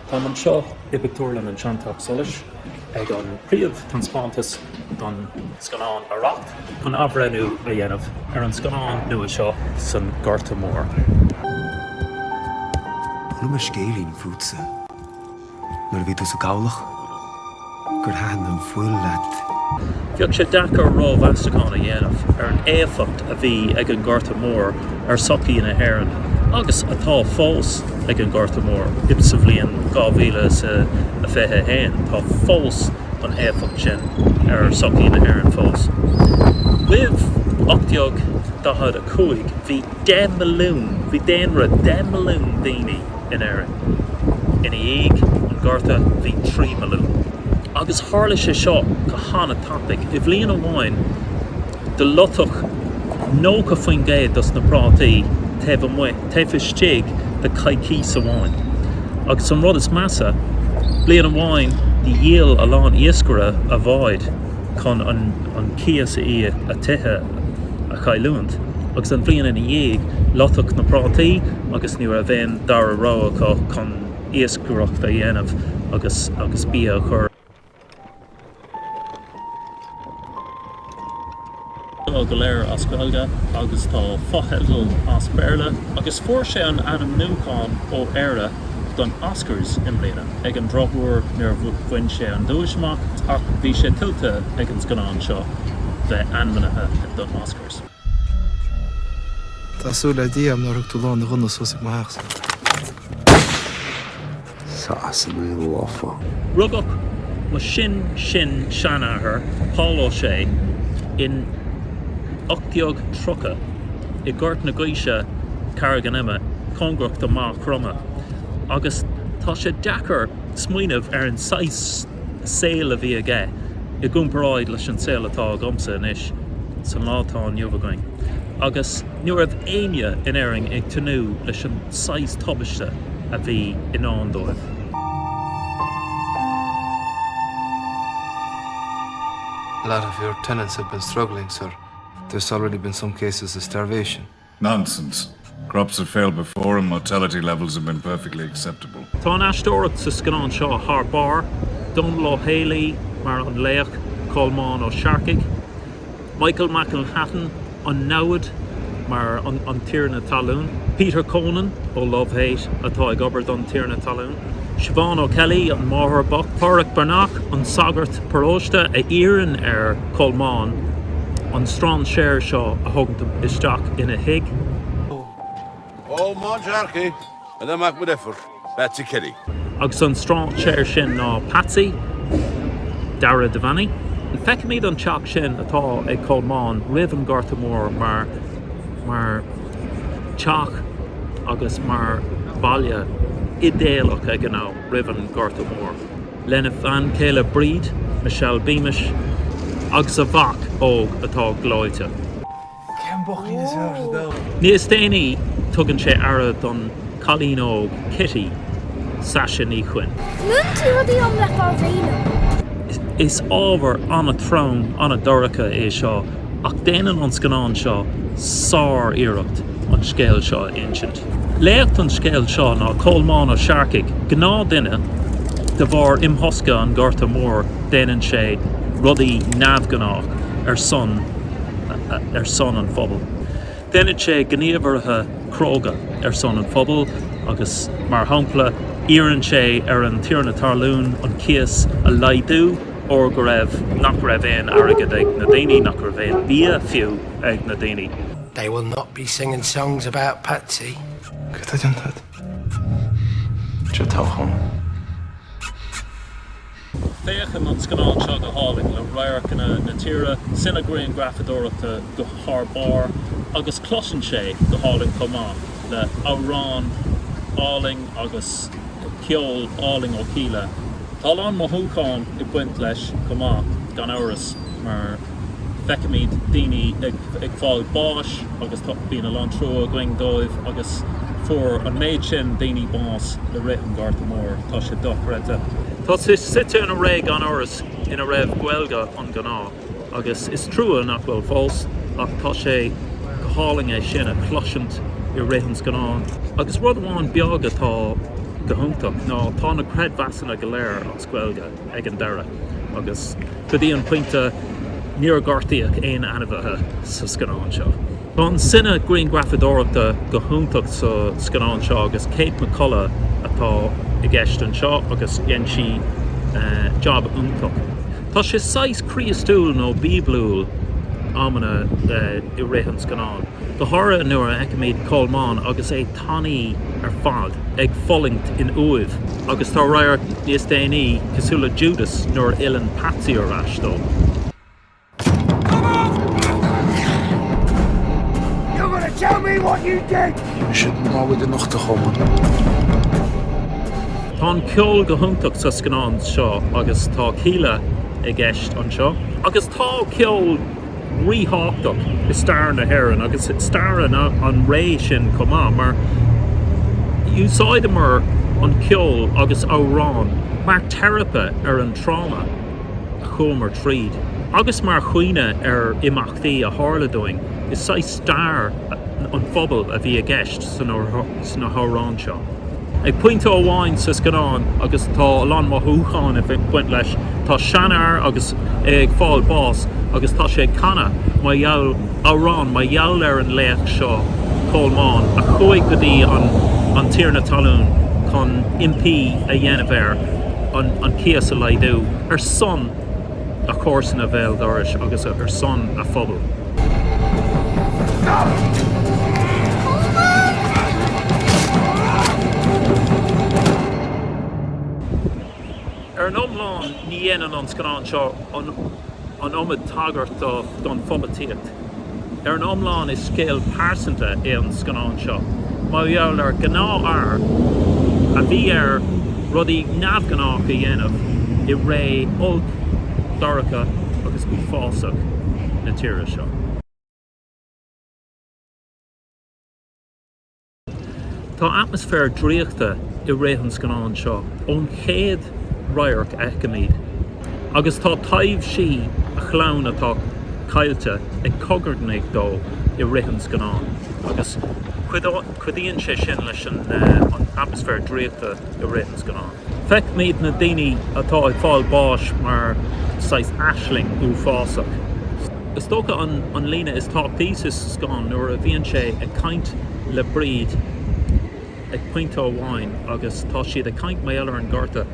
Táim anseo i bpictiúrlann an Seanteach Solais ag an príomh-taispeántas don scannán Arracht chun athbhreithniú a dhéanamh ar an scannán nua seo san Gorta Mór. Chuala mé scéilín fútsa nuair a bhí tú sa gcabhlach. gur thaitin an fuil leat. Bheadh sé deacair rómheastachán a dhéanamh ar an éifeacht a bhí ag an nGorta Mór ar sochaí na hÉireann, agus atá fós ag an nGorta Mór, insa bhliain 2021, tá fós an éifeacht sin ar sochaí na hÉireann fós. Roimh 1845, bhí 10 milliún, bhí daonra 10 milliún daoine, in Éirinn. Ina dhiaidh an Ghorta bhí 3 milliún. Agus tharla sé seo go han-tapaidh. I bhliain amháin do loiteadh 90% dos na prátaí taobh amuigh, taobh istigh de coicís amháin. Agus an rud is measa, bliain amháin do dhíol a lán iascaire a bháid chun an cíos a íoc, a dtithe. a chailliúint, agus an bhliain ina dhiaidh, loiteadh na prátaí agus ní raibh aon dara rogha acu chun iascaireacht a dhéanamh agus agus bia a chur Tá go léir as Gaeilge agus tá fotheidil as Béarla agus fuair sé an ainmniúchán ó Éire don Oscars i mbliana. Ag an drochuair níor bhain sé an duais amach ach bhí sé tuillte ag an scannán seo bheith ainmnithe don Oscars. Tá súil le Dia nár thug tú lán do ghunna suas ag mo theachsa. Sasanaigh lofa. Rugadh mo shin-sin-seanathair Pól Ó Sé in 1830 i nGort na gCiseach, Carraig an Ime, cóngarach do Mhagh Chromtha. agus tá sé deacair smaoineamh ar an saghas saoil a bhí aige i gcomparáid leis an saol atá agamsa anois san lá atá inniu againn agus ní raibh éinne in Éirinn ag tnúth leis an saghas tubaiste a bhí i ndán dóibh. a lot of your tenants have been struggling, sir. There's already been some cases of starvation. Nonsense. Crops have failed before and mortality levels have been perfectly acceptable. Tá an aisteoireacht sa scannán seo thar barr, Dónall Ó Héalaí mar an laoch, Colmán Ó Searcaigh, Michael McElhatton, an namhaid, mar an Tiarna Talún, Peter Coonan ó Love Hate atá ag obair don Tiarna Talún. Siobhán O'Kelly, an máthair bocht, Pádraic Breathnach, an sagart paróiste a iarrann ar Cholmán an strainséir seo a thógaint isteach ina thigh. Colmán Sharkey agus a mhac deirféar, Patsy Kelly. Agus an strainséir sin ná Patsy, Dara Devaney. Feicimid an teach sin atá ag Colmán roimh an Gorta Mór mar. teach agus mar bhaile idéalach ag an am roimh an Gorta Mór, lena bhean chéile Bríd, Michelle Beamish, agus a mhac óg atá gleoite. Níos déanaí, tugann sé aire don chailín óg Kitty, Saise Ní Chuinn. Baineann tú rudaí liom le fáil féin. Is ábhar an-trom, an-dorcha é seo. Ach déanann an scannán seo sár-iarracht an scéal seo a insint. Laoch an scéil seo ná Colmán Ó Searcaigh, gnáthdhuine, de bharr imthosca an Ghorta Mhóir déanann sé rudaí neamhghnách ar son ar son an phobail. Déanann sé gníomhartha cróga ar son an phobail agus mar shampla iarrann sé ar an tiarna talún an cíos a laghdú, óir go raibh nach raibh aon airgead ag na daoine, nach raibh aon bhia fiú ag na daoine. They will not be singing songs about Patsy. Céard atá déanta agat? Seo an toghchán. Féachann an scannán seo go hálainn le radharcanna na tíre, cine-ghrianghrafadóireachta go thar barr agus cloiseann sé go hálainn chomh maith le amhrán álainn agus. ceol álainn ó Kíla. Tá a lán mothúchán ag baint leis chomh maith, gan amhras, mar feicimid daoine ag ag fáil báis agus tá bíonn a lán trua againn dóibh agus fuair an méid sin daoine bás i rith an Ghorta Mór. Tá sé dochreidte. Tá sé suite in ré, gan amhras, ina raibh Gaeilge an-ghnáth. Agus is trua nach bhfuil fós, ach tá sé go hálainn é sin a chloisint i rith an scannáin. Agus rud amháin beag atá go hiontach ná tá na creidmheasanna go léir as Gaeilge ag an deireadh agus go dtí an pointe níor gortaíodh aon ainmhithe sa scannán seo. Tá an cine-ghrianghrafadóireachta go hiontach sa scannán seo agus Kate McCullough atá i gceist anseo agus dhein sí jab iontach. Tá sé saghas Críostúil nó Bíoblúil amanna i rith an scannáin, go háirithe nuair a fheicimid Colmán agus é tanaí ar fad ag fulaingt in uaimh agus tá radharc níos déanaí cosúil le Judas nuair a fhilleann Patsy ar ais dó. Tá an ceol go hiontach sa scannán seo agus tá Kíla i gceist anseo. Agus tá ceol ríthábhachtach i stair na hÉireann agus i stair an ré sin chomh maith mar úsáideamar an ceol agus amhráin mar theiripe ar an tráma. a chuamar tríd agus mar chuimhne ar imeachtaí a tharla dúinn is saghas stair an phobail a bhí i gceist sna hamhráin seo. Ag pointe amháin sa scannán, agus tá a lán mothúchán ag baint leis, tá seanfhear agus é ag fáil báis agus tá sé ag canadh mar gheall, amhrán mar gheall ar an laoch seo, Colmán, a chuaigh go dtí an tiarna talún chun impí a dhéanamh air. an cíos a laghdú ar son a chomharsana bhéal dorais agus ar son a phobail. Ar an iomlán, ní dhéanann an scannán seo an iomad tagairt don pholaitíocht. Ar an iomlán is scéal pearsanta é an scannán seo mar gheall ar ghnáthfhear a bhí air rudaí neamhghnácha a dhéanamh i ré olc, dorcha agus uafásach na tíre seo. Tá atmaisféar draíochta i rith an scannáin seo ón chéad radharc a fheicimid agus tá taibhsí a chlann atá caillte ag cogarnaigh dó i rith an scannáin agus cuidíonn sé sin leis an atmaisféar draíochta i rith an scannáin. Feicimid na daoine atá ag fáil báis mar saghas aisling uafásach. Is dócha an líne is tábhachtaí sa scannán nuair a bhíonn sé ag caint le Bríd ag pointe amháin agus tá siad ag caint mar gheall ar an Ghorta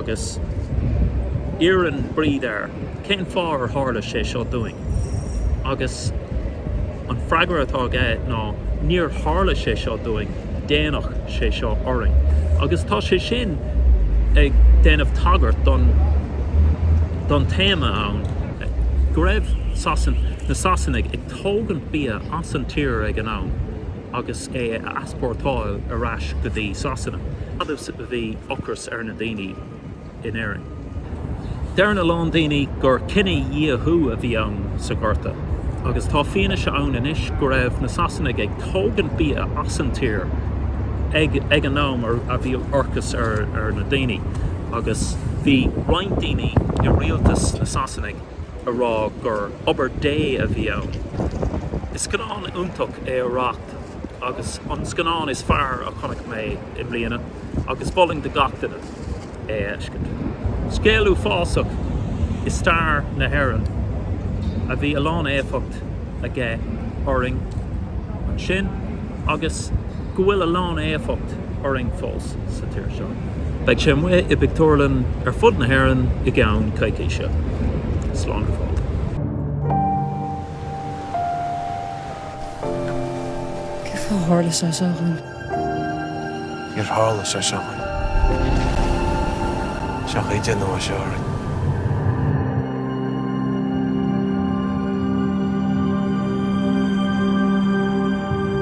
agus iarrann Bríd air cén fáth ar tharla sé seo dúinn agus an freagra atá aige ná níor tharla sé seo dúinn déanadh sé seo orainn, agus tá sé sin ag déanamh tagairt don don téama ann go raibh Sasain, na Sasanaigh ag tógaint bia as an tír ag an am agus é a easpórtáil ar ais go dtí Sasana. Fad's a bhí ocras ar na daoine, in Éirinn. Deireann a lán daoine gur cinedhíothú a bhí ann sa Ghorta agus tá fianaise ann anois go raibh na Sasanaigh ag tógaint bia as an tír ag an am a bhí ocras ar na daoine agus bhí roinnt daoine i rialtas na Sasanach ag rá gur obair Dé a bhí ann. Is scannán iontach é Arracht agus an scannán is fearr a chonaic mé i mbliana agus mholfainn do gach duine. é a fheiscint. Scéal uafásach i stair na hÉireann a bhí a lán éifeacht aige orainn ansin agus go bhfuil a lán éifeacht orainn fós sa tír seo. Beidh sé amuigh i bpictiúrlann ar fud na hÉireann i gceann coicíse. Slán go fóill. Cad a tharla seo, seo againn? Níor tharla sé seo chugainn. Seo chugainn Dia nua, seo orainn.